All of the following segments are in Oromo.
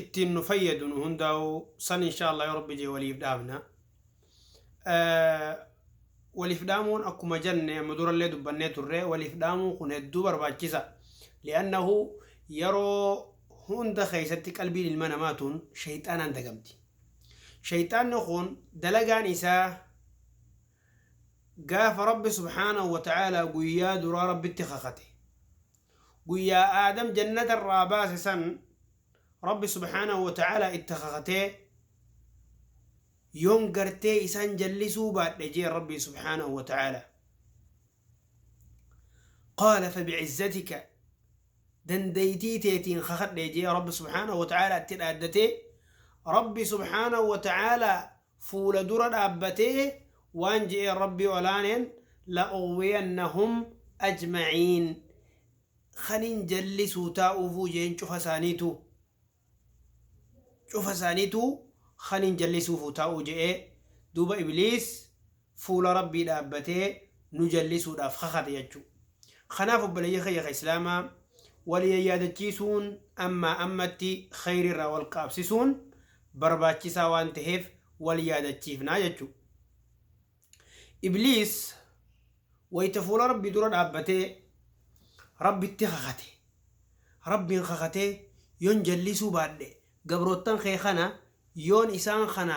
ittiin nu fayyadu nu hundaa'u san inshaallah yoo rabbi jee waliif dhaamna waliif dhaamuun akkuma jenne amma durallee dubbannee turre waliif dhaamuu kun hedduu barbaachisa li'annahu yeroo hunda keessatti qalbiin ilma namaa tun shayxaanaan dagamti shayxaanni kun dalagaan isaa gaafa rabbi subhaanahu wa ta'aalaa guyyaa duraa rabbitti kakate Guyyaa Aadam jannata irraa baase san Rabbi subhaanahu wa ta'aalaa itti kakatee, Yoon gartee isaan jallisuu baadhe jeen Rabbiin subhaanahu wa ta'aalaa. Qaala fabi'izzatika dandaytii teetiin kakadhe jee Rabbi subhaanahu wa ta'aalaa itti dhaaddatee, Rabbi subhaanahu wa ta'aalaa fuula dura dhaabbatee waan je'een Rabbi olaaneen la'ughwiyannahum ajma'iin kanin jallisuu taa'uufuu je'een cufa isaaniituu cufa isaaniituu kanin jallisuufuu taa'uu je'ee duuba ibliis fuula Rabbii dhaabbatee nu jallisuudhaaf kakate jechuu. Kanaaf obboleeyyan kiyya ka Islaamaa wal yayyaadachiisuun ammaa ammatti kheyrii irraa wal qaabsisuun barbaachisaa waan taheef wal yaadachiifnaa jechuu. Ibliis wayta fuula Rabbii dura dhaabbatee Rabbitti kakate. Rabbiin kakatee yoon jallisuu baadhe gabroottan kee kana yoon isaan kana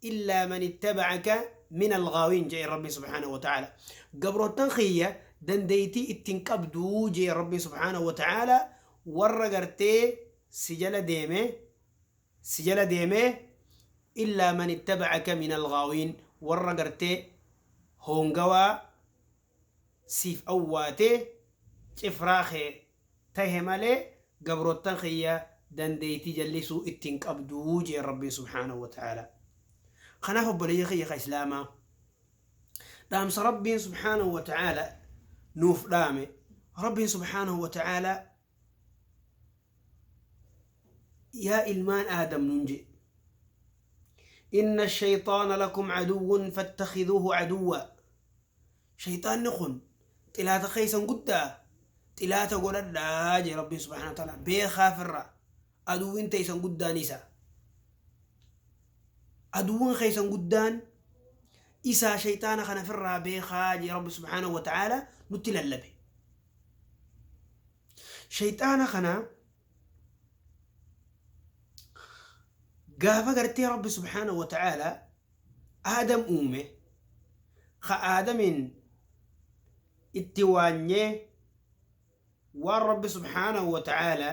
illaa man ittabacaka min alghaawiin je'een rabbiin subhaanahu wa ta'aala gabroottan kiyya dandeeytii ittiin qabduu je'een rabbiin subhaanahu wa ta'aala warra gartee si jala deeme si jala deeme illaa man ittabacaka min alghaawiin warra gartee hoongawaa siif awwaatee cifraa kee tahe malee gabrottan kiyya dandeeytii jallisuu itti hin qabdu jeen Rabbiin subhaanahu wa ta'aalaa. Kanaaf obboleeyyan kiyya ka islaamaa dhaamsa Rabbiin subhaanahu wa ta'aalaa nuuf dhaame Rabbiin subhaanahu wa ta'aalaa yaa ilmaan aadam nun je'e inna shayxaana lakum aduwwun fattakhiduuhu aduwwa shayxaanni kun xilaata keessan guddaa xilaata godhadhaa jee rabbiin subhaanahu wa ta'aala beekaa firra aduwwiin teessan guddaan isa aduwwan keessan guddaan isaa shayxaana kana firraa beekaa jee rabbi subhaanahu wa ta'aala nutti lallabe Sheyxaana kana gaafa gartee Rabbi subhaanahu wa ta'aala Aadam uume ka Aadamiin itti waanyee waan Rabbi subhaanahu wa ta'aala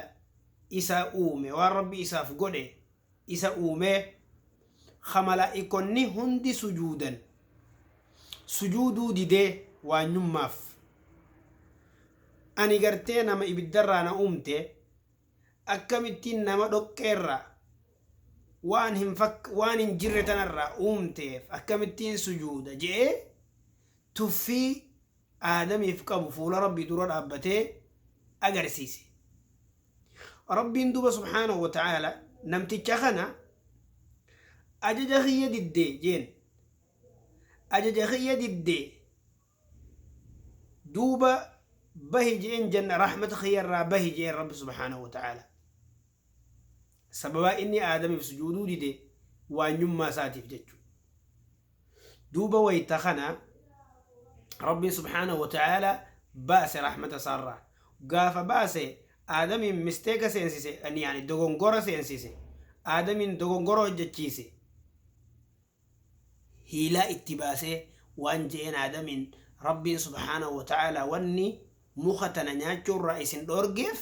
isaa uume waan Rabbi isaaf godhe isa uumee ka malaa'ikonni hundi sujuudan sujuuduu didee waanyummaaf ani gartee nama ibiddarraa na uumte akkamittiin nama dhoqqeerraa waan hin fakk waan hin jirre tanarraa uumteef akkamittiin sujuuda je'ee tuffii Aadamiif qabu fuula Rabbii dura dhaabbatee agarsiise. Rabbiin duuba subhaanahu wa ta'aala namticha kana ajaja kiyya didde jeen. Ajaja kiyya didde duuba bahi jeen janna rahmata kiyya irraa bahi jeen Rabbi subhaanahu wa ta'aala. Sababaa inni Aadamiif sujuuduu dide waanyummaa isaatiif jechu. Duuba wayta kana Rabbiin subhaanahu wa ta'aala baase rahmata isaarraa. Gaafa baase Aadamiin misteeka seensise, yani dogongora seensise. Aadamiin dogongora hojjachiise. hiilaa itti baasee waan je'een Aadamiin Rabbiin subhaanahu wa ta'aalaa wanni muka tana nyaachuurraa isin dhoorgeef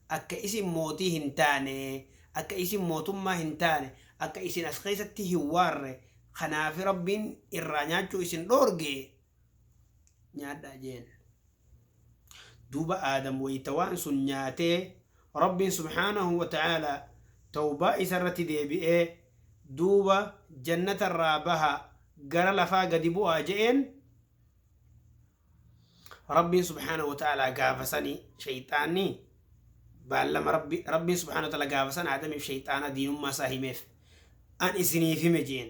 akka isin mootii hin taane, akka isin mootummaa hin taane, akka isin as keessatti hin waarre kanaafi Rabbiin irraa nyaachuu isin dhoorge. nyaadhaa jeen duuba aadam wayta waan sun nyaatee rabbiin subhaanahu wa ta'aalaa tawbaa isa irratti deebi'ee duuba jannata irraa baha gara lafaa gadi bu'aa je'een rabbiin subhaanahu wa ta'aalaa gaafasanii shayxaanni baallama rabbi rabbiin subhaanahu wa ta'aalaa gaafasan aadamiif shayxaana diinummaa isaa himeef an isiniif hime jeen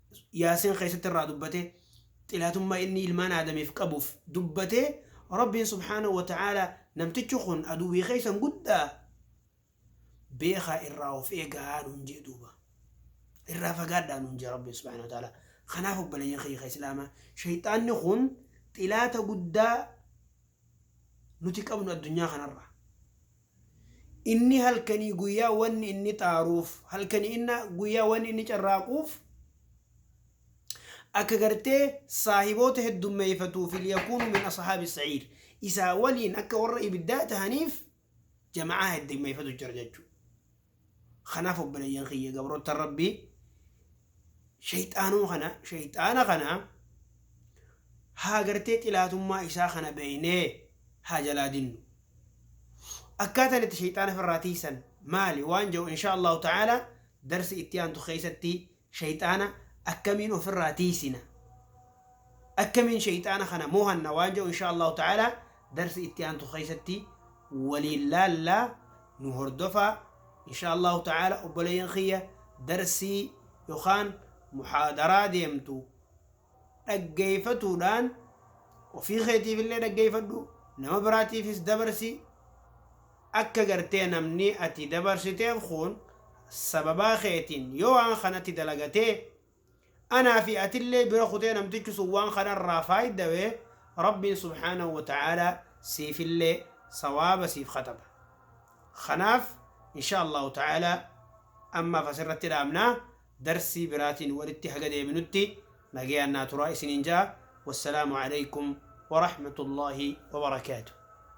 Yaasin keessatti irraa dubbate xilaatummaa inni ilmaan aadamiif qabuuf dubbate Rabbiin subhaanahu wa ta'aala namtichi kun aduwwii keessan guddaa beekaa irraa of eegaa nuun jee duuba irraa fagaadhaa nuun jee Rabbiin subhaanahu wa ta'aala kanaaf obboleeyyan kiyya islaamaa shayxaanni kun xilaata guddaa nuti qabnu addunyaa kanarraa Inni halkanii guyyaa wanni inni xaaruuf, halkanii inna guyyaa wanni inni carraaquuf, akka gartee saahiboota heddummeeyfatuuf, liyakuunu min ashaabi sa'iir, isaa waliin akka warra ibiddaa tahaniif, jama'aa heddummeeyfatu jira jechuu. Kanaaf obboleeyyan kiyya gabroottan Rabbii shayxaanuma kana shayxaana kana haa gartee xilaatummaa isaa kana beeynee haa jalaa dinnu. Akkaataan itti shayxaana firraa tiysan maali waan jahu inshaa Allahu ta'aala darsi itti aantu keeysatti Sheyxaana akkamiin ofirraa tiysina? Akkamiin sheyxaana kana moohanna waan jedhu inshaa Allaahu ta'aalaa darsi itti aantu keessatti waliin laalla nu hordofaa inshaa Allaahu ta'aalaa obboleeyyan kiyya darsii yokaan muhaadaraa deemtu dhaggeeffatuudhaan ofii keetiif illee dhaggeeffadhu, nama biraatiifis dabarsi. Akka gartee namni ati dabarsiteen kun sababaa keetiin yoo waan kanatti dalagate, anaa fi ati illee bira kutee namtichi sun waan kana irraa faaydawe, Rabbiin subhaanahu wa ta'aalaa siif illee sawaaba siif kataba. Kanaaf inshaa Allaahu ta'aalaa ammaaf as irratti dhaabna. Darsii biraatiin walitti haga deebinutti nagayaan naa turaa isiniin ja'a. Wassalaamu Aleykum Warahmatullaahi Wabarakaatuh.